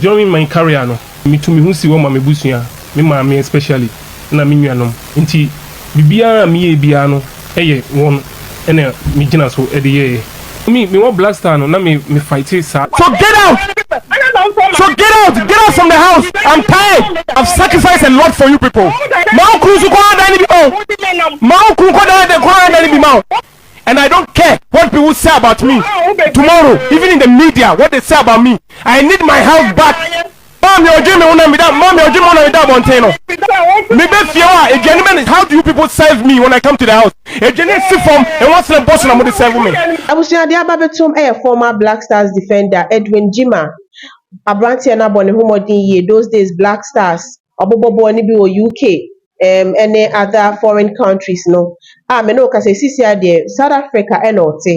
During my career no metu me ho si hɔ ma me busua, me maame especially na me nuanom nti biribiara a meyɛɛ biara no yɛ wɔn na me gyina so de yɛɛ. For me me wɔ black star no na me me fight saa. So get out so get out get out from the house I'm tired I've sacrifice a lot for you people ma wo kunu nso kɔ adan no bi ma wo ma wo kunu kɔ dan kɔ adan no bi ma wo. and I don't care what people say about me tomorrow even in the media what they say about me I need my health back maame ɔdwe me ho na meda maame ɔdwe me ho na meda abɔnten no mebɛ fie hɔ a aduane bɛ how do you people serve me when I come to the house aduane si fam ɛwɔ sena bɔ so na mo de serve me. Abusuade aba bɛtom yɛ former Black Stars defender Edwin Gyimah, aberanteɛ no abɔ ne ho mmɔden yie those days Black Stars. Ɔbobɔboɔ no bi wɔ UK ne other foreign countries no a me ne wo kasa yi sisi ara deɛ South Africa na ɔte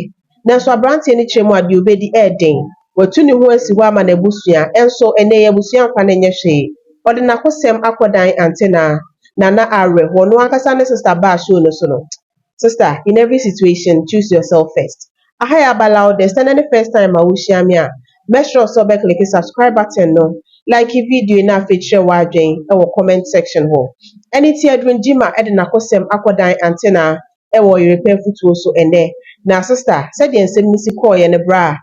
nanso abranteɛ no kyerɛ mu a deɛ ɔbɛdi ɛyɛ den. Watu ne ho asi hɔ ama n'abusua nso ɛnnɛ yi abusua mfa no nyɛ hwee. Ɔde n'akosɛm akɔ dan antenaa. Nana awerɛhoɔ. Noankasa ne sister baa show no so no Sister in every situation choose yourself first Aha yɛ aba loudest sɛ nɛ ne first time a wohyia me a mɛsrɛw sɛ wobɛkleke subscribe button no Like video yi na afei kyerɛ w'adwen wɔ comment section hɔ Ɛne Tiadrun Gyima de n'akosɛm akɔ dan Antenna wɔ Ɔyerepɛ afutuo so ɛnɛ Na sister sɛdeɛ nsɛm no si kɔɔeɛ no bra a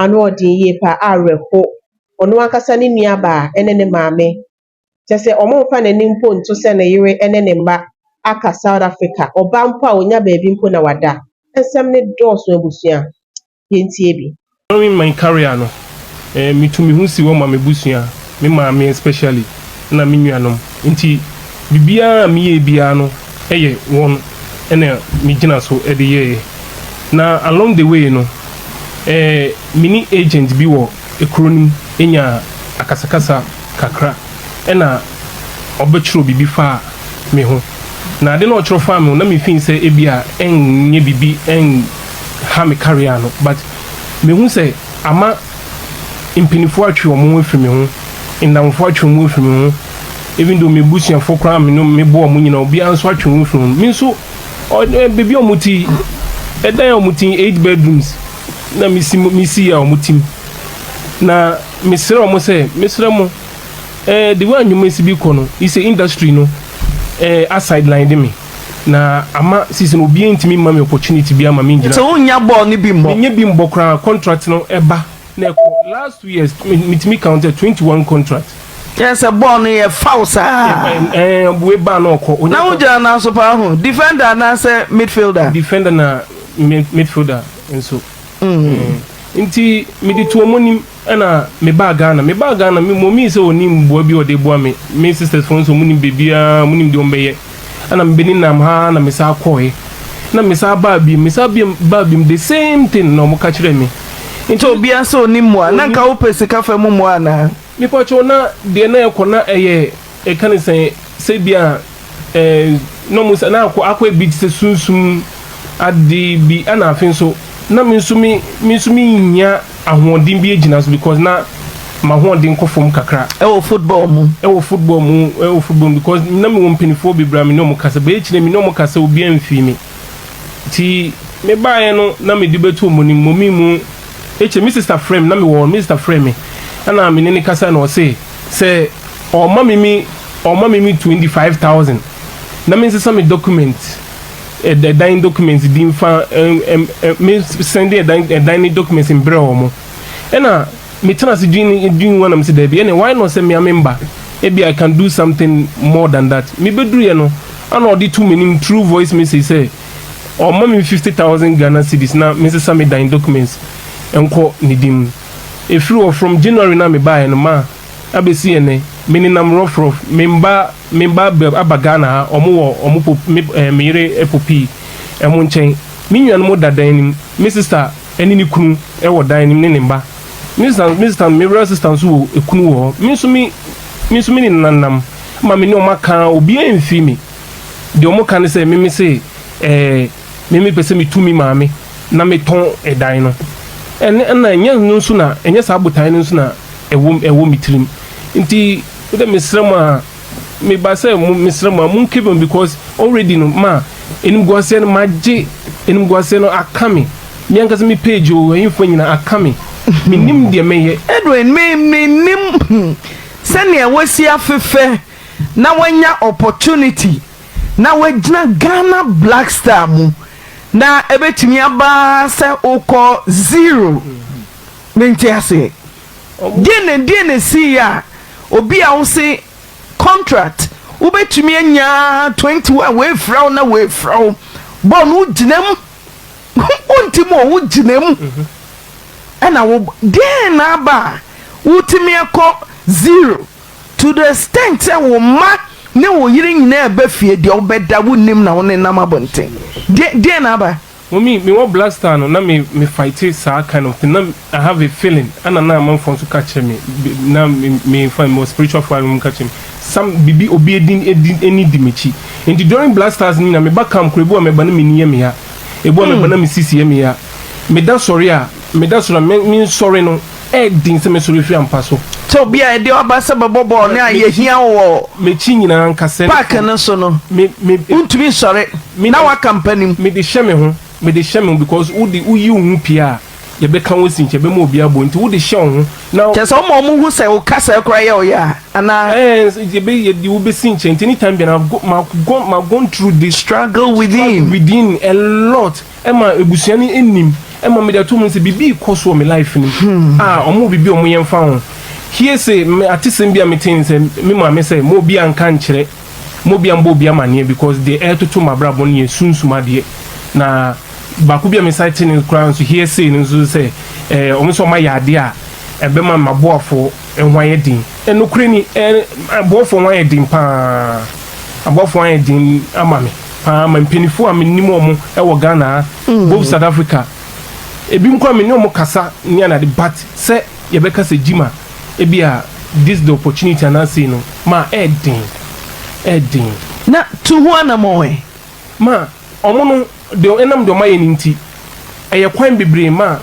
ano ɔden yie paa awerɛho Ɔno ankasa ne nuabaa ne ne maame kyerɛ sɛ wɔmfa n'ani mpo nto sɛ ne yere ne ne mma aka South Africa, ɔba mpo a ɔnya baabi mpo na wada. Nsɛm no dɔɔso abusua. Yɛntie bi. During my career no, eh, me tu me ho si hɔ ma me busua, me maame especially, ɛna me nuanom. Nti biribiara a me yɛɛ biara no ɛyɛ wɔn ɛna me gyina so ɛde yɛɛ. Na along the way no, eh, me ne agent bi wɔ. kuro no mu nyaa akasakasa kakra na ɔbɛtwerɛɛ biribi faa me ho. Na ade no a ɔtwerɛ faa me ho no, na me feel sɛ ebia ɛnyɛ biribi, ɛnha me career no. But mehu sɛ ama mpaninfoɔ atwe wɔn ho afiri me ho, nnamfoɔ atwe wɔn ho afiri me ho, even though m'abusuafoɔ koraa a me ne me bɔ wɔn nyinaa, obiara nso atwe ne ho afiri me ho. Me nso, ɔde baabi a wɔte yi, ɛdan a wɔte yi, eight bedrooms, na mesi mo mesi yɛ wɔn tim na mesrɛ wɔn sɛ mesrɛ mo eh, the way anwuma si bi kɔ no yi sɛ industry no eh, asideline de me na ama sisi no obiara ntumi mma me opportunity bi ama me ngyina nti wonya bɔɔl no bi mmɔ menyɛ bi mbɔ koraa contract no ɛba na ɛkɔ last two years metumi count 21 contract Kyerɛ sɛ bɔɔl no yɛ foul saa. Ɛɛ bue ba na ɔkɔ. Onye na wogyina nan so paa ho. Defender anaasɛ midfielder? Defender na midfielder nso. Mm. mm. Nti mede tu wɔn anim ɛna mebaa Ghana. Mebaa Ghana mɔmii sɛ ɔni mboa bi ɔde boa me. Me sisters fo nso munim bebiara munim deɛ ɔmbɛyɛ. Ɛna mebɛni nam ha na mesa kɔɔɛ. Na mesa baa biem mesa biem baa biem the same thing na ɔmo ka kyerɛ me. Nti obiara sɛ ɔni mmoa na nka wopɛ sika fa mu mmoa anaa? Mepakyɛw na deɛ na ɛkɔ na ɛyɛ ɛka ne sɛn sɛ bi a eh na ɔmo sɛ na akɔ akɔ yɛ bi te sɛ sunsum ade bi ɛna afe nso na me nso me me nso me nhia ahoɔden bi agyina so because na mahoɔden kɔ fam kakra ɛwɔ football mu ɛwɔ football mu ɛwɔ football mu because na me wɔ mpanifoɔ bebree a me ne ɔmo kasa but akyire me ne ɔmo kasa obiara mfii me ti me baeɛ no na me de bɛto ɔmo anim ɔmo mu. Ekyir me sista frɛɛ me, nna mowɔ hɔ, me sista frɛɛ me na menye no kasae na ɔse sɛ ɔma me me ɔma me me twenty five thousand na mensesa me document ɛd ɛdan documents bi mfa ɛm ɛm ɛm me sɛnde ɛdan ɛdan ne documents mbrɛ wɔn ɛna metena ase dwen dwen ho a na mese daabi ɛne why not sɛ mea memba ebi I can do something more than that mebeduruiɛ no ana ɔde to m'anim through voice message sɛ Ɔma me fifty thousand Ghana cedis na me nsesa me dan documents nkɔ ne din mu. Ɛfiri hɔ from January no a me baeɛ no maa abɛsi ɛnnɛ me nenam rough rough. Me mma me mma aba aba Ghana ha ɔmo wɔ ɔmo po me ɛɛ me yere popii ɛmo nkyɛn. Me nuanom da dan no mu. Me sister ɛne ne kunu ɛwɔ dan no mu ne ne mma. Me sister me sister me real sister nso wɔ ɛkunu wɔ hɔ. Me nso me me nso me ne nenanam ma me ne ɔmo aka obiara mfii me. deɛ ɔmo ka ne sɛ meme se ɛɛ meme pɛ sɛ me tu me maame na me tɔn ɛdan no ɛne ɛna ɛnyɛ no nso na ɛnyɛ saa botae no nso na ɛwɔ ɛwɔ me tirim nti wodɛ mesrɛ mo a me ba sɛ mo mesrɛ mo a mo nkebe mo because already no ma enimguaseɛ no magye enimguaseɛ no aka me me ankasa me page o ɛyinfoɔ nyina aka me menim deɛ mɛyɛ Edwin me me nim sɛnea wasi afefɛ. na wanya opportunity na wagyina Ghana Black Star mu na ɛbɛtumi aba sɛ wokɔ zero. Mente aseɛ. Deɛ na deɛ na ɛsiiɛ a obi a wose contract wobɛtumi anya 21 wɔafira wo na wɔafira wo bɔɔl no wogyina mu wonti mu o wogyina mu ɛna wo deɛ na aba a wotumi akɔ zero. To the extent sɛ wo mma ne wo yere nyinaa reba fie, deɛ wobɛda wonnim na wonenam abɔnten. Deɛ, deɛ na aba? Mummy, me wɔ blood star no na me me fighte saa kind of thing na I have a feeling ɛna na amanfoɔ nso ka kyerɛ me be na me me nfa me wɔ spiritual foɔ a na ɔmo ka kyerɛ me some bibi obi edin edi ɛni di m'akyi nti during blood stars no nyina me ba camp koraa ebi wɔ a mɛba na m'ani yɛ me ya ebi wɔ a mɛba na me sisi yɛ me ya me da sɔre a Meda so na me me nsɔre no ɛyɛ den sɛ mɛsɔre afiri ampa so. Sɛ obi a ɛdeɛ ɔba sɛ bɛbɔ bɔɔl no a yɛhia wo wɔ M'akyi nyinaa nka sɛ. paake no so no, Me me wontumi nsɔre me na woaka mpanim. Mede hyɛ me ho, mede hyɛ me ho because wode woyi wo ho pie a yɛbɛka wo asi nkyɛn, yɛbɛma obi abɔ nti wode hyɛ wo ho na. Kyerɛ sɛ woma wɔn hu sɛ wo kasaa koraa yɛ wo ya anaa? Ɛɛ yɛbɛ yɛde wo bɛsi nkyɛn nti anytime biara I've go ma gone through this. Struggle within. Struggle within a lot. Ɛma abusua no nim. Ɛma mede ato mu sɛ biribi rekɔ so wɔ me life no mu. Ah, wɔwɔ biribi a wɔyɛ mfa ho. Hearsay, me atesɛm bi a metee ne sɛ, me maame sɛ, mma obiara nka nkyerɛ, mma obiara mmɔ obiara amaneɛ because deɛ ɛretoto m'abrabɔ no yɛ sunsum adeɛ. Na baako bi a mesan tee no koraa nso, hearsay no nso sɛ, eh, wɔn sɛ wɔayɛ adeɛ a ɛbɛma m'aboafoɔ ho ayɛ den. Eh, nokorɛ ni, eh, aboafoɔ ho ayɛ den pa ara. Aboafoɔ ho ayɛ den ama me. paa ma mpanyinfoɔ a menim wɔn wɔ Ghana ha, both South Africa, ebinom koraa me ne wɔn kasa ne anade but sɛ yɛbɛka sɛ Gyima ebi a this is the opportunity anaa sei no ma ɛɛden, ɛɛden. Na tu ho anamɔn ɛ? Ma wɔn no deɛ ɛnam deɛ wɔayɛ no nti ɛyɛ kwan bebree ma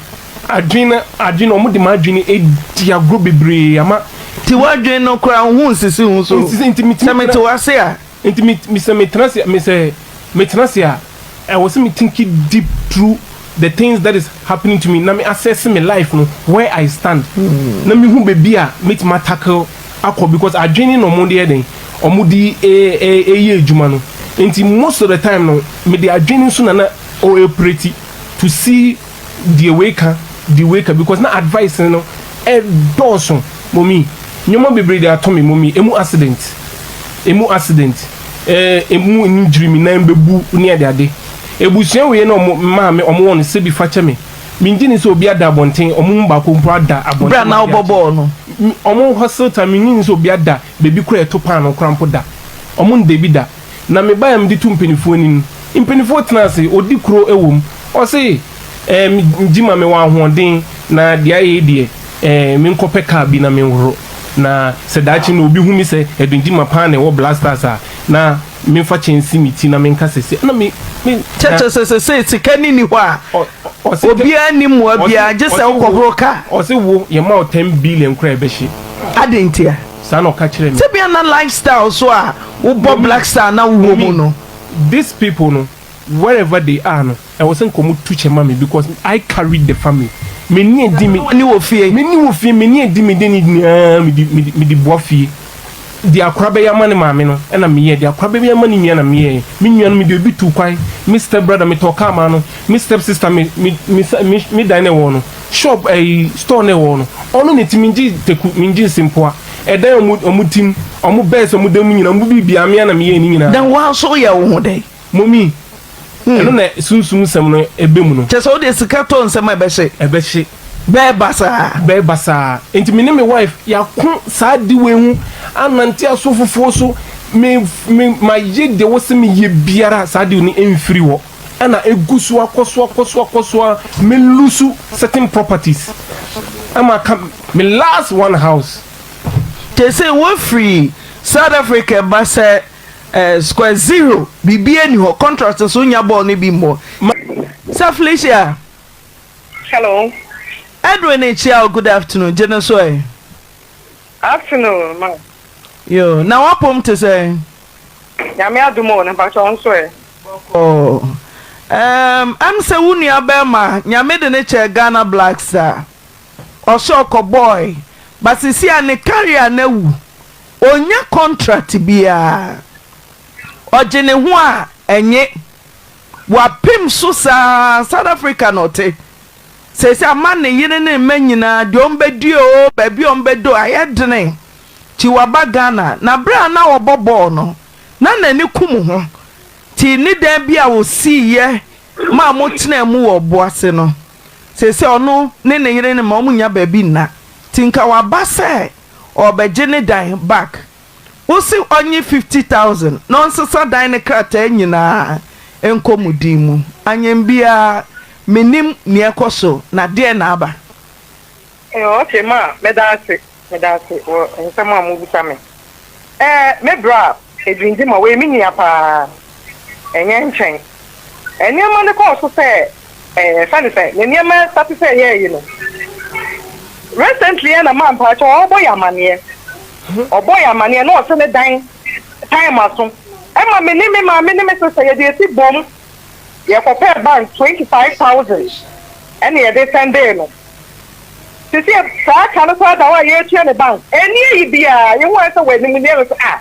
adwene no adwene wɔde ma adwene adi agorɔ bebree ama. Nti w'adwene no koraa wo ho nsisi ho so? Nsisi nti metumi. Sɛ mete w'ase a. Nti me me sɛ me tena ase me sɛ me tena ase a ɛwɔ sɛ me thinki deep through the things that is happening to me na me assess me life no where I stand na me hu baabi a me tumi a tackle akɔ because adwene na ɔmo de yɛ dɛn ɔmo de yɛ adwuma no nti most of the time no me de adwene nso na na ɔrepreti to see deɛ wei ka, deɛ wei ka because na advice no ɛdɔɔso mommy, nneɛma bebree de ato me mommy, emu accident, emu accident, ɛɛ emu injury me nan bɛbu ne ade ade. Ebusua wei na ɔmo maa me ɔmo wɔ no sɛbi fa kyɛ me, me ngye ni sɛ obi ada abɔnten, ɔmo mu baako mpo ada abɔnten. Bra na wobɔ bɔɔl no. Ɔmo hustle time, me ngye ni sɛ obi ada baabi koraa ɛto paanoo koraa mpo da, ɔmo nda bi da. na me baeɛ a mede to mpaninfoɔ ani no, mpaninfoɔ tena ase, ɔdi kuro wɔ mu, ɔse ɛɛ me gye ma mewɔ ahoɔden na deɛ ayɛ yi deɛ ɛɛ me nkɔ pɛ car bi na me nhoro na sɛ daakye no obi hu me sɛ ɛdon gye ma paa na ɛwɔ black stars a na me nfa kyɛ nsi me ti na me nka sɛ se ɛna me me na Kyɛkyɛ sɛ sɛ sɛ sika ni ni hɔ a ɔ ɔse kyɛ obiara nni mmoa ɔse biara gye sɛ ɔse wo wokɔhoro car. ɔse wo yɛ ma wo ten billion koraa ɛbɛhye. Adɛn ntia? Saa na ɔka kyerɛɛ me. Tebea na lifestyle nso a wobɔ Black Star na wowɔ mu no. These people no wherever they are no ɛwɔ sɛ nka ɔmo tu kyɛ ma me because I carried the family. Me ni edi me. Woni wɔ fie. Me ni wɔ fie, me ni edi me deni nyinaa me di me di me di boa fie. Deɛ akora bɛyɛ ama ne maame no ɛna me yɛ, deɛ akora bɛyɛ ama ne nua na me yɛɛ. Me nua no me de obi tuu kwan, me step brother me tɔɔ car maa no, me step sister me me me sa me me dan na ɛwɔ no. Shop ɛyi store na ɛwɔ no ɔno ne ti mi gye teku mi gye nsimpoa ɛdan ɔmo ɔmo ti mu ɔmo bɛs ɔmo dan mu nyina ɔmo bi bia mia na mi yɛ ne nyina. Na wa nso yɛ wo ho dɛn. Momi hmm. ɛno na sunsum nsɛm no ɛbɛ mu no. Kyɛ sɛ wode sika tɔ nsɛm a ɛbɛhye. Ɛbɛhye. Bɛɛ basaa. Bɛɛ basaa. Nti me ne me wife yako saa diwe ho anante aso fufuo so me me ma ye de wo se me ye biara saa diwe no mfiri wɔ. na egu so ara kɔ so ara kɔ so ara kɔ so ara me lose certain properties na maka me last one house. Te se wo firi South Africa ba sɛ eh square zero biribiara nni hɔ contract nso wonya bɔɔl no bi mmɔ. Ma. Sir Felicia. Hello. Edwin Echiao good afternoon gye no so ɛ. Afternoon ma. Yoo na w'apom te sɛn? Nyame adom o na mpakyɛ wo nso ɛ? Bɔkɔɔ ɛɛm ɛm sɛ wo nua bɛɛma Nyame de no kyɛɛ Ghana Blacks a ɔsɛ ɔkɔ bɔɔe but sisi a ne carrier no awu ɔnnya contract biaa ɔgye ne ho a ɛnye wapem so saa South Africa na ɔte Seesei ama ne yere ne mma nyinaa, deɛ wɔbɛdie oo, baabi a wɔbɛda oo, ayɛ dene, nti waba Ghana. Na berɛ a na ɔrebɔ bɔɔl no, na n'ani ku mo ho, nti ne dan bi a wɔsiiɛ maa motenaa mu wɔ bo ase no, seesei ɔno ne ne yere ne mma, wɔnnya baabi nna, nti nka waba sɛ ɔrebɛgye ne dan back. Wose ɔnye fifty thousand na ɔnsesa dan no krataa nyinaa nkɔ mo din mu. Anyen biara mennim nea ɛkɔso na deɛn na aba? Eh ok ma meda ase meda ase wɔ nsɛm a mobisa me eh me bra a ɛdwindzi ma wei me nua paa. ɛnyɛ nkyɛn. Nneɛma no kɔɔ so sɛ ɛɛ ɛsiane sɛ ne nneɛma sate sɛ ɛyɛɛ yi no, recently ara na Maa Mpakyɛw a ɔrebɔ yɛn amanneɛ, ɔbɔɔ yɛn amanneɛ na ɔse ne dan time aso. Ɛma me ne me maame ne me sister yɛde esi boom, yɛkɔpɛɛ bank twenty five thousand ɛna yɛde sɛndee no. Seesei saa ka no koraa da hɔ a yɛretua ne bank. Ɛnni ayi biara, yehu ara sɛ wɔ animuonyam no so ah!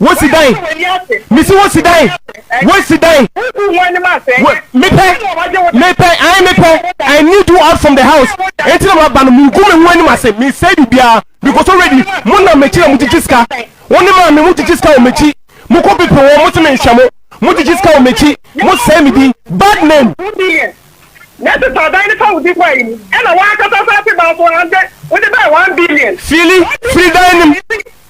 Wosi dan. Mesi wosi dan. Wosi dan. Mepɛ. Mepɛ. Ayi mepɛ. I need you out from the house. Eti na ma ba no mu gu me ho anim ase. Me sɛ bibia. Because already mo nam m'akyi na mo gyigye sika. Wɔn ne maame mo gyigye sika wɔ m'akyi. Mo kɔ pipi wɔn mo se me nhwɛ mo. Mo gyigye sika wɔ m'akyi. Mo sɛe me din. Bad name. Nɛse saa dan ne fa wo di kwa yi mu ɛna wankasa sa te ba so ande wo de bɛɛ one billion. Fili firi dan nim.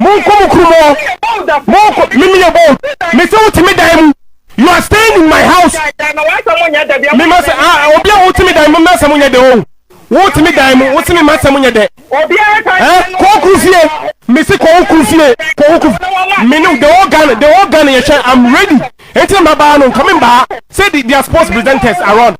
Monkɔ mo kurom hɔ. Monkɔ. Me meyɛ bold. Me sɛ wote me dan mu. You are staying in my house. Me ma sɛ ah obi a wote me dan mu m'asɛm nyɛ dɛ o. Wote me dan mu wose me m'asɛm nyɛ dɛ. Eh kɔ wo kuru fie. Me se kɔ wo kuru fie. Kɔ wo kuru. Me ne the whole Ghana the whole Ghana yɛhwɛ I'm ready. Enti na mabaa no nka me mbaa. Sɛ the their sports presenters around.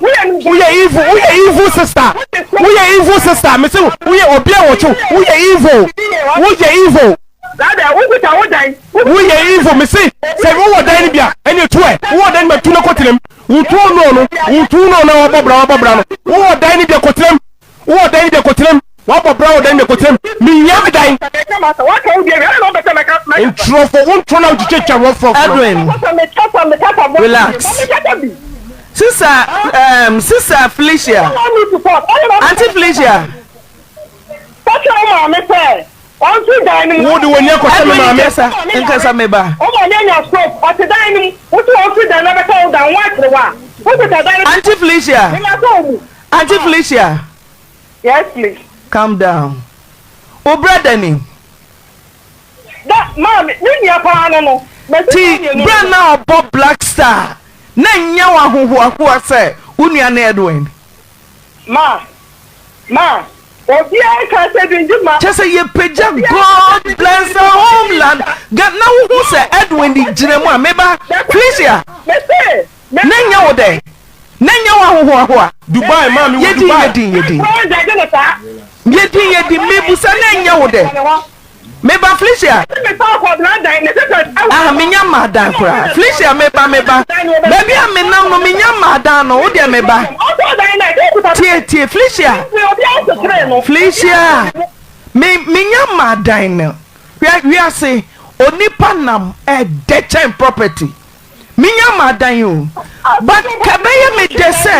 Woyɛ evil woyɛ evil sister woyɛ evil sister mese woyɛ obi a wɔtwe woyɛ evil woyɛ evil. Woyɛ evil mese sɛ wowɔ dan no bi a ɛne tu ɛ wowɔ dan no bi a tu no kɔtenam wotu ɔno ɔno wotu no ɔno a wabɔ bra wabɔ bra no wowɔ dan no bi a kɔtenam Wowɔ dan de koterem. Wabɔ bra wɔ dan de koterem. Mehia me dan. Ntorɔfoɔ wo ntorɔ na wotwitwa twa wɔ frɔmfrɔm. Edwin relax sisa ehm sisa Felicia auntie Felicia. Wode w'ani akɔhyɛ me maame. Edwin kasa nkasa me ba. Auntie Felicia. Auntie Felicia. Yes please. Calm down. Wo brother ni. Da maame ne nua paa no no. Ti bra na ɔbɔ black star na nya wa hohoahoa sɛ wo nua ne Edwin. Ma ma obiara ka sɛ dwendwe ma. Kyɛ sɛ yɛpagya God bless our homeland. Ga na wohu sɛ Edwin gyina mu a meba Felicia. Mese. Nɛ nyɛ wo dɛ? Nɛ nyɛ wo ahohoahoa? Dubai maa me wo Dubai. Yɛ din yɛ din yɛ din. Yɛ din yɛ din mebusa nɛ nyɛ wo dɛ? Meba Felicia. Ah menya mmaa dan koraa Felicia meba meba baabi a menam no menya mmaa dan no wo deɛ meba tie tie Felicia Felicia me menya mmaa dan no hwɛ wiase onipa nam ɛdɛ kyɛn property. menya m'adan o but ka ɛbɛyɛ me dɛ sɛ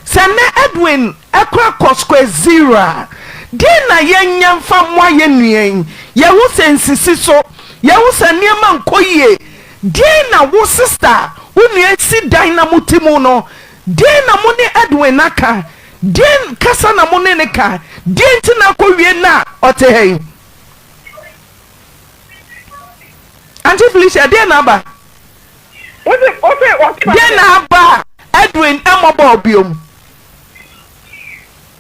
sɛ nnɛ Edwin kora kɔ square zero a deɛn na yɛnyɛ mfa mmoa yɛn nua yi? Yɛhu sɛ nsisi so, yɛhu sɛ nneɛma nkɔ yie, deɛn na wo sista a wo nua asi dan na mote mu no, deɛn na mo ne Edwin aka? Deɛn kasa na mo ne no ka? Deɛn nti na akɔwie nnɛ a ɔte ha yi? Auntie Felicia, deɛ na aba? Wode wode wode ba Deɛ na aba a Edwin mmɔ bɔɔl biom?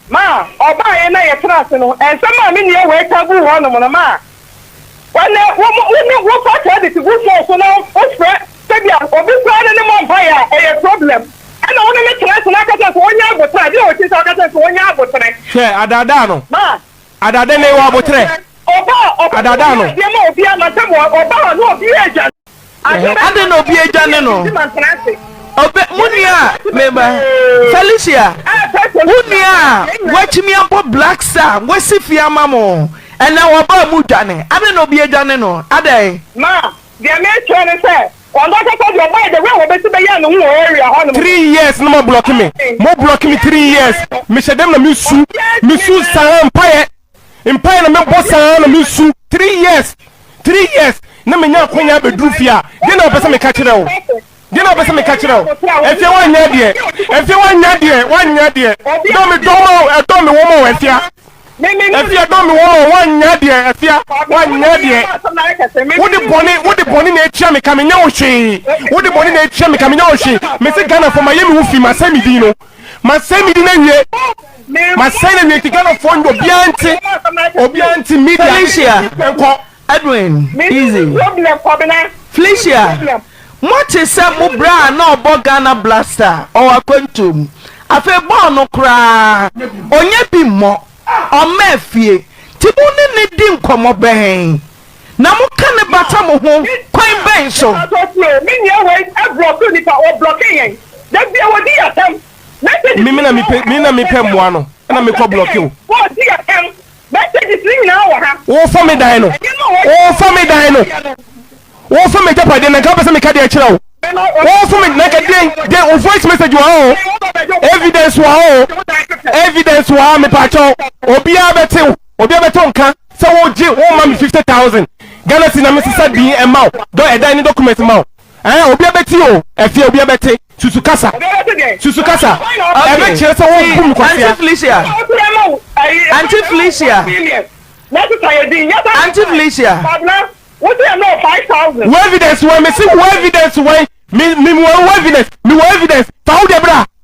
Ma ɔbaeɛ na yɛtena ase no, nsɛm a me nua wei ka guu hɔnom no maa wɔne wo wo ne wofa credit gu phone so na wofrɛ sɛdeɛ obi koraa ne ne mmɔ mpaeɛ a, ɛyɛ problem. Ɛna wo ne no tena ase na aka kyerɛ no sɛ ɔnyɛ aboterɛ a, deɛ ɔte sɛ ɔka kyerɛ no sɛ ɔnyɛ aboterɛ. Hwɛ, adaadaa no. Ma Ada de ne wɔ aboterɛ. Adada no. Adɛn na obi adwane no? Ɔbɛ mo nua a meba Felicia wo nua a watumi abɔ Black Star wasi fie ama mo ɛnɛ wɔba a mo dwane adɛn na obi adwane no adɛn? Kwando akasa deɛ ɔbae the way wɔbɛsi bɛyɛɛ ne ho wɔ area hɔ nom no. Three years na mo blocke me mo blocke me three years me hyɛ dɛm na me su me su saa mpaeɛ mpaeɛ na me bɔ saa na me su three years three years na me nya akwanya abɛduru fie a deɛ na wɔpɛ sɛ meka kyerɛ wo deɛ na wɔpɛ sɛ meka kyerɛ wo afia woanyɛ adeɛ afia woanyɛ adeɛ woanyɛ adeɛ dɔ me dɔ ma wo ɛdɔ me wɔ ma wo afia. Afia dɔ me wɔn a wɔnyɛ deɛ Afia wɔnyɛ deɛ Wode bɔne wode bɔne na atua me ka me nyɛ wo hwee Wode bɔne na atua me ka me nyɛ wo hwee Me se Ghana fo ma yɛ me wo fi ma sɛ me din no Ma sɛ me din na wie Ma sɛ na wie nti Ghana fo obiara nte obiara nte media Felicia nkɔ. Edwin, Izzy, Felicia, mote sɛ mo berɛ a na ɔbɔ Ghana Blaster, ɔwɔ akwantuo mu. Afei bɔɔl no koraa ɔnyɛ bi mmɔ, ɔmma afie. Nti mo ne no di nkɔmmɔ bɛn? Na moka no bata mo ho kwan bɛn so? Me na mepɛ mmoa no na mekɔ blɔke wo. Messages no nyinaa wɔ ha. Wofa me dan no. Wofa me dan no. Wofa me agyapadeɛ na nka wopɛ sɛ meka deɛ kyerɛ wo. Wofa me na nka den den wo voice message wɔ ha o. Evidence wɔ ha o. Evidence wɔ ha mepaakyɛ wo. Obiara bɛte wo. Obiara bɛte wo nka sɛ wogye woma me fifty thousand Ghana cedi na mesesa din ɛma wo dɔ ɛdan ne documents ma wo. Ɛɛ, obiara bɛte o. Ɛfeɛ, obiara bɛte. Susu kasa. Obiara bɛte dɛn? Susu kasa. Ɛbɛkyerɛ sɛ wɔabu me kwasia. Auntie Felicia. Auntie Felicia. Auntie Felicia. Wo evidence wɛn? Mese wo evidence wɛn? Me, me, mewɔ wo evidence. Mewɔ evidence. Fa wo deɛ bra.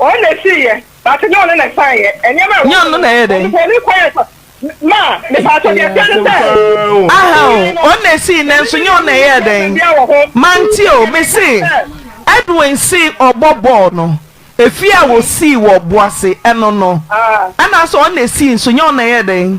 Ɔno na esii yɛ, but nyɛ ɔno na ɛsan yɛ. Nneɛma a ɛwɔ hɔ no, ɔno ne kwan yɛ ma a, mepatɔ deɛ ɛteɛ ne sɛ. Aha o, ɔno na esii nanso nyɛ ɔno na ɛyɛɛ dɛn? Mante o, mese Edwin se ɔbɔ bɔɔl no, efie a wɔsii wɔ Boase, ɛno no, ɛna asɛ ɔno na esii nso nyɛ ɔno na ɛyɛɛ dɛn?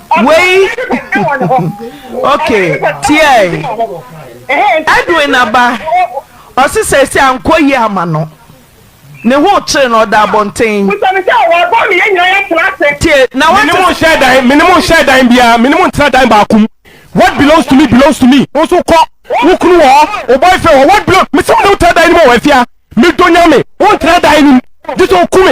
wei okay tiɛn Edwin aba ɔsi sɛ ɛsi ankɔ yie ama no ne ho kyere no ɔda abɔnten tie na wɔn mene mo nhyɛ dan mene mo nhyɛ dan biara mene mo ntena dan baako mu what belongs to me belongs to me nso kɔ wo kunu wɔ hɔ wo boyfriend wɔ what belongs mesi mo ne wo tena dan no mu wɔ afia me dɔ nya me wo ntena dan no mu gye sɛ oku me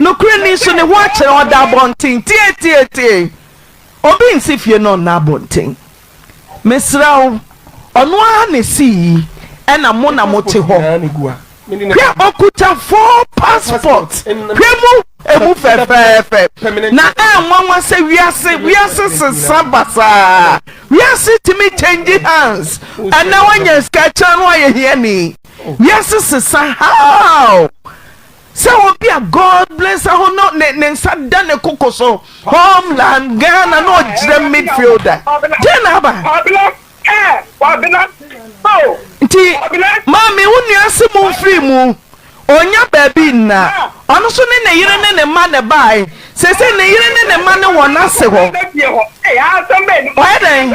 Nokorɛ ni so ne ho akyerɛ ɔda abɔnten tietietie, obi nsi fie na ɔnna abɔnten. Mesrɛ wo, ɔno ara na ɛsii yi ɛna mo na mo te hɔ. Hwɛ ɔkuta four passport, hwɛ mu ɛmu fɛfɛɛfɛ, na ɛnwanwa sɛ wiase, wiase sesa basaa, wiase tumi change hands, ɛnɛ wanya sika kyerɛ no wayɛ hiani, wiase sesa how? Sɛ obi a God bless aho no ne ne nsa da ne koko so, Homeland, Ghana, na ɔgyina midfielder, dɛn na aba? Nti, maame, wo nua ase mu mfiri mu. Ɔnnya baabi nna. Ɔno nso ne ne yere ne ne mma na ɛbae. Seesei ne yere ne ne mma ne wɔn ase hɔ. Wayɛ dɛn?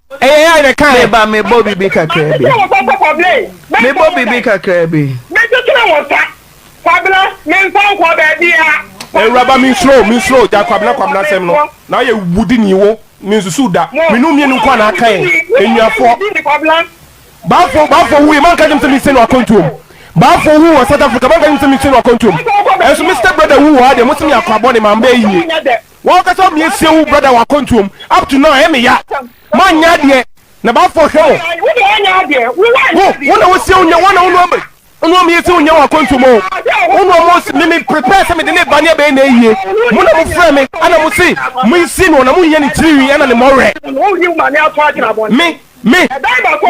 Ɛyɛ ya na kan. Meba me bɔ bibi kakra bi. Mɛtete wɔn sa sɛ kɔble. Me bɔ bibi kakra bi. Mɛtete wɔn sa. Kwabena me nfa nkɔ baabiara. Awuraba me nsuro me nsuro gya kwabena kwabena sɛm no na ayɛ wudi ni wo me nsusu da me nu mienu nko a na aka yɛn enuafoɔ Baafo baafo wu yi manka gyem sɛ me se no akɔntuom baafo wu wɔ South Africa manka gyem sɛ me se no akɔntuom ɛnso me step brother wu wɔ ha deɛ mo se me akɔ abɔ ne ma mbɛ yie. Wo ankasa me asie wo brother wɔ akwantuo mu up to now ɛyɛ me ya mo anyɛ adeɛ na baafoɔ hwɛ mo wo wo na wo sie wo nya wo na wo nua me wo nua me asie wo nya wɔ akwantuo mu oo wo nua mo si me me prepare sɛ me de ne ba ne abɛyɛ na ayie mo na mo frɛ me ɛna mo se mo nsie no na mo nyɛ ne tiri nwi ɛna ne mɔwerɛ me me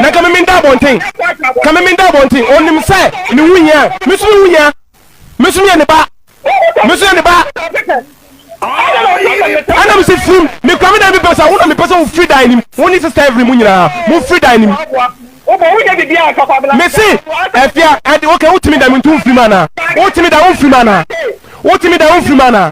na ka me me nda abɔnten ka me me nda abɔnten ɔnim sɛ me wu hia me so me wu hia. Me nso meyɛ ne ba. Me nso yɛ ne ba. Ɛna mese firim mekura me dan bi pɛ sɛ wo na mepɛ sɛ wofiri dan nim wo ne sista Evelyn mu nyinaa mofiri dan nim. Mese afia ɛde woka wotumi dan mu nti womfiri mu anaa wotumi dan womfiri mu anaa wotumi dan womfiri mu anaa.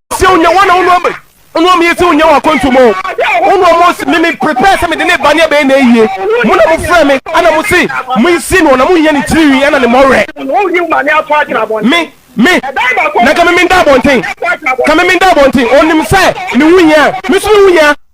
sɛ wonya wɔn na wone ɔm wone ɔm yɛ sɛ wonya wɔ akwantu mu wone ɔm me me prepare sɛ mede ne ba ne abɛyɛ na ayie mo na mofrɛ me ana mo se monsi no na monhia ne tiri wi ana ne mmɔwerɛ me me na ka me menda abɔnten ka me menda abɔnten ɔnim sɛ ne ho hia me so me ho hia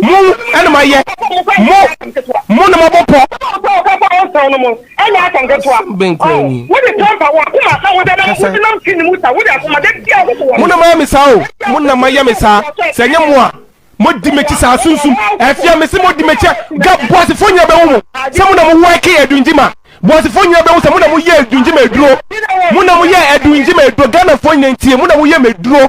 Mo ɛna ma yɛ. Mo mo na ma bɔ pɔ. Asɛm bɛn koraa ni. Kasa. Mo na ma yɛ me saa o. Mo na ma yɛ me saa. Sɛ nyɛ mo a, mo di m'akyi saa sunsum ɛfia me se mo di m'akyi ga boasefo nyina bɛhu mo sɛ mo na mo wɛke adungyima boasefo nyina bɛhu sɛ mo na mo yɛ adungyima aduro mo na mo yɛ adungyima aduro Ghanafoɔ nyina ntie mo na mo yɛ m'aduro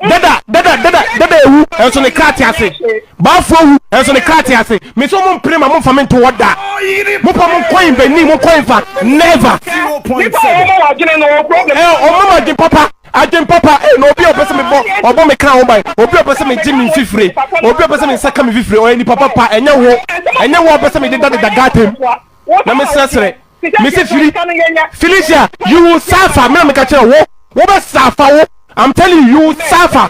dada dada dada dada ewu ɛnso ne kra te ase baafo ewu ɛnso ne kra te ase meso mo mpere ma mo nfa me nto hɔ da mo pa mo nkɔn bɛ ni mo nkɔn nfa never ɛ ɔmo ma adwen papa adwen papa ɛ na obi a ɔpɛ sɛ me bɔ ɔbɔ me kra ho ban obi a ɔpɛ sɛ me gye me nfifire obi a ɔpɛ sɛ me nsa ka me nfifire ɔyɛ nipa papa ɛnyɛ wo ɛnyɛ wo a ɔpɛ sɛ me deda deda gata mu na me srɛsrɛ. mese firi felicia you will suffer me na meka kyerɛ wo wo bɛ suffer wo i'm telling you you will suffer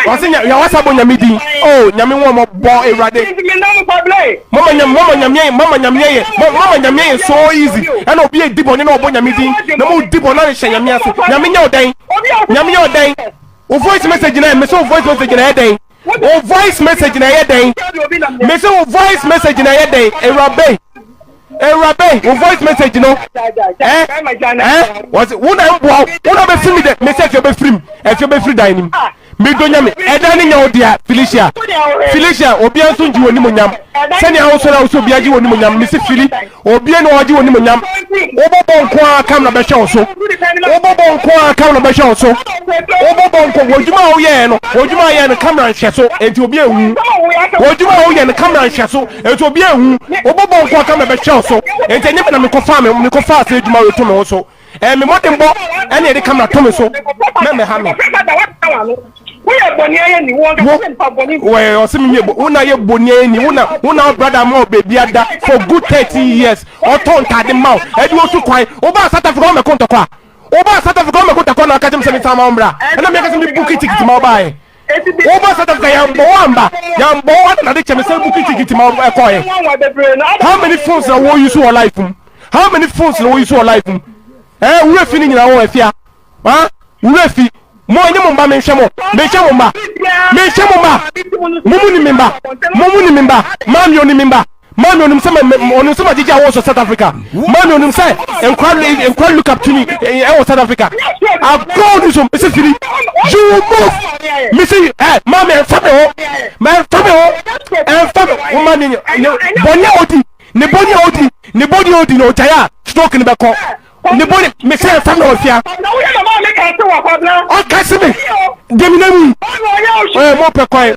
ɔse nya wasa bɔ nyame din oh nyame wɔn mo bɔ awurade mama nyame mama nyame mama nyame yɛ mama nyame yɛ so easy ɛna obi edi bɔ ne na ɔbɔ nyame din na mo di bɔ na ne hyɛ nyame ase nyame nyɛ ɔdan nyame nyɛ ɔdan o voice message na mese o voice message na ɛdɛn Wo voice message na ɛyɛ dɛn? Me se wo voice message na ɛyɛ dɛn? Ewurabe, ewurabe, wo voice message no ɛ ɛ wɔsi wo na mboa wo, wo na bɛ firi mi dɛ, me se ɛfi ɔbɛ firi mu, ɛfi ɔbɛ firi dan nim. Me do nyame, ɛdan ne nyɛ wo dea, Felicia, Felicia, obia nso ngye wo animonyam, sɛnea wo sɔre a wo se obia gye wo animonyam, me se Fili. Obie na ɔgye onim nyam. Wobɔ bɔ nko ara kam na bɛhwɛ wo so. Wobɔ bɔ nko ara kam na bɛhwɛ wo so. Wobɔ bɔ nko w'adwuma a woyɛɛ no w'adwuma a yɛɛ no kamera nhwɛ so enti obi ehu. W'adwuma a woyɛ no kamera nhwɛ so enti obi ehu. Wobɔ bɔ nko ara kam na bɛhwɛ wo so enti ɛnyɛ me na mekɔ faa me mekɔ faa saa adwuma wei to me ho so. Ɛyɛ me mmɔdenbɔ na ɛde kamera to me so na mmɛha me. Woyɛ bɔniayɛ ni wɔn ka sɛ mpa bɔni. Wɔyɛ ɔsɛ mi mi yɛ bɔ wɔn na yɛ bɔniayɛ ni wɔn na wɔn na brada ma wɔ beebi ada for good thirteen years ɔtɔ ntaade ma wo ɛdi wo so kwan wo ba South Africa wɔn mɛ ko ntɔkwa wo ba South Africa wɔn mɛ ko ntɔkwa na ɔka kyɛm sɛ mi fa ma wɔn bra ɛna mi yɛ kasa mi buki tikiti ma wo ba yɛ. Wo ba sɛ dada yɛnbɔ wo amba yɛnbɔ wo adɛn na de kyɛ me sɛ bukiti kiti ma ɛkɔɔɛ how many phones na wo use wɔ life mu how many phones na wo use wɔ life mu ɛɛ eh, wura fi ne nyina wo afia ha wura fi mo nye mo mba menhwɛ mo menhwɛ mo mba menhwɛ mo mba mo mu ni me mba mo mu ni me mba maami oni me mba Manu onim sɛ onim sɛ magyegye awɔ so South Africa. Manu onim sɛ nkwa nkwa look up to me ɛwɔ South Africa. Agorɔ ni so mesi firi you will move mesi ɛ maame ɛnfa mi hɔ ma ɛnfa mi hɔ ɛnfa mi hɔ ma ne ne bɔnni a odi ne bɔnni a odi ne bɔnni a odi na ɔgya yɛ a stroke ni bɛ kɔ. ne bone mesɛ fam na wafia ɔka se me demina mu mo pɛ kwan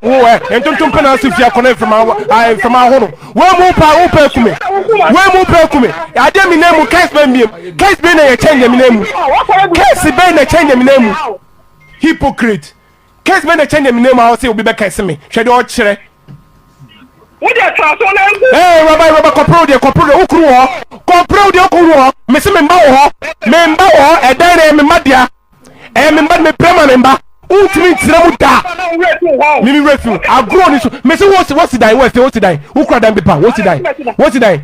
ntontom pɛ na ase fia kɔnɔ mframa ahono wei mu pa wo pɛ kume wei mu pɛ kume adeɛ mina mu kɛse bɛ mbiem kɛse bɛ na yɛkyɛ nyamina mu kɛse bɛ na kyɛ nyamina mu hypocrite Case bɛ na ɛkyɛ nea menam ha ɔse obi bɛka ɛse me hwɛ deɛ ɔkyerɛ. Wo deɛ tra so na nku. Hey wɛba wɛba kɔpere wo deɛ kɔpere deɛ wo kuru wɔ hɔ kɔpere wo deɛ wo kuru wɔ hɔ mese me mba wɔ hɔ me mba wɔ hɔ ɛdan na ɛyɛ me mba dea ɛyɛ me mba me pere ma me mba wontumi nkyerɛ mu da mimi wura fi mu agorɔ ni so mese wosi wosi dan wo ɛfɛ wosi dan wo kura dan bi pa wosi dan wosi dan.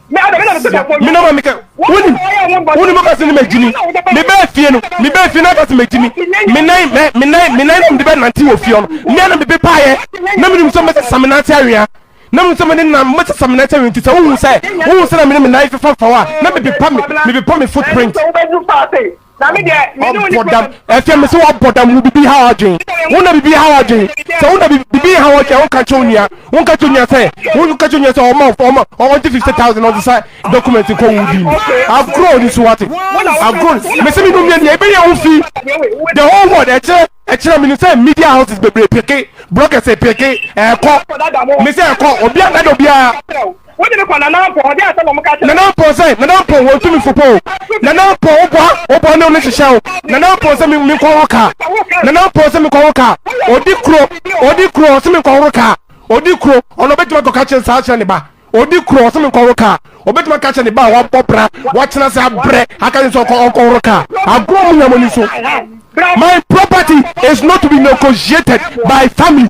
mena ma meka wonim wonim woka se ne magyimi mebɛɛ fie no mebɛɛ fie no aka se magyimi menan menan menan na mede bɛnante wɔ fie no mmea na mebe paeɛ na menim sɛ mɛsɛ sa menante awea na menim sɛ mene nam mɛsɛ sa menante awea nti sɛ wohu sɛ wohu sɛ na mene menan fefa faw a na mebepa me mebepa me footprint ɔbɔdam ɛfɛ mi sɛ ɔbɔdam wo bibi ha ɔdwen wo na bibi ha ɔdwen sɛ wo na bibi ha ɔdwen wo kakyɛ onua wo kakyɛ onua sɛ wo kakyɛ onua sɛ ɔma ɔma ɔgye fifty thousand ɔde sa document kɔ wo di ni agorɔ oni so wate agorɔ mi sɛ mi nu mmienu ebe yɛ wo fi the whole world ɛkyerɛ ɛkyerɛ mi ni sɛ media houses bebree peke brokers peke ɛkɔ mi sɛ ɛkɔ obi a dada obiara. Wode me kɔ Nana Ampɔn, ɔde asɛm a wɔka kyerɛ. Nana Ampɔn sɛ, Nana Ampɔn, wɔn tumi fo pɔ o. Nana Ampɔn, wo boa, wo boa ne wo ne hyehyɛ o. Nana Ampɔn sɛ, me, me kɔhoro kaa. Nana Ampɔn sɛ, me kɔhoro kaa. Odi kuro, odi kuro, ɔsɛ me nkɔhoro kaa. Odi kuro, ɔno ɔbɛtumi akɔka kyerɛ saa kyerɛ ne ba. Odi kuro, ɔsɛ me nkɔhoro kaa. Ɔbɛtumi aka kyerɛ ne ba a wabɔ bra, wakyena sɛ abrɛ, aka ne sɛ ɔkɔ, ɔnkɔhoro kaa. Agorɔ mu nyamoni so. My property is not to be negotiated by family.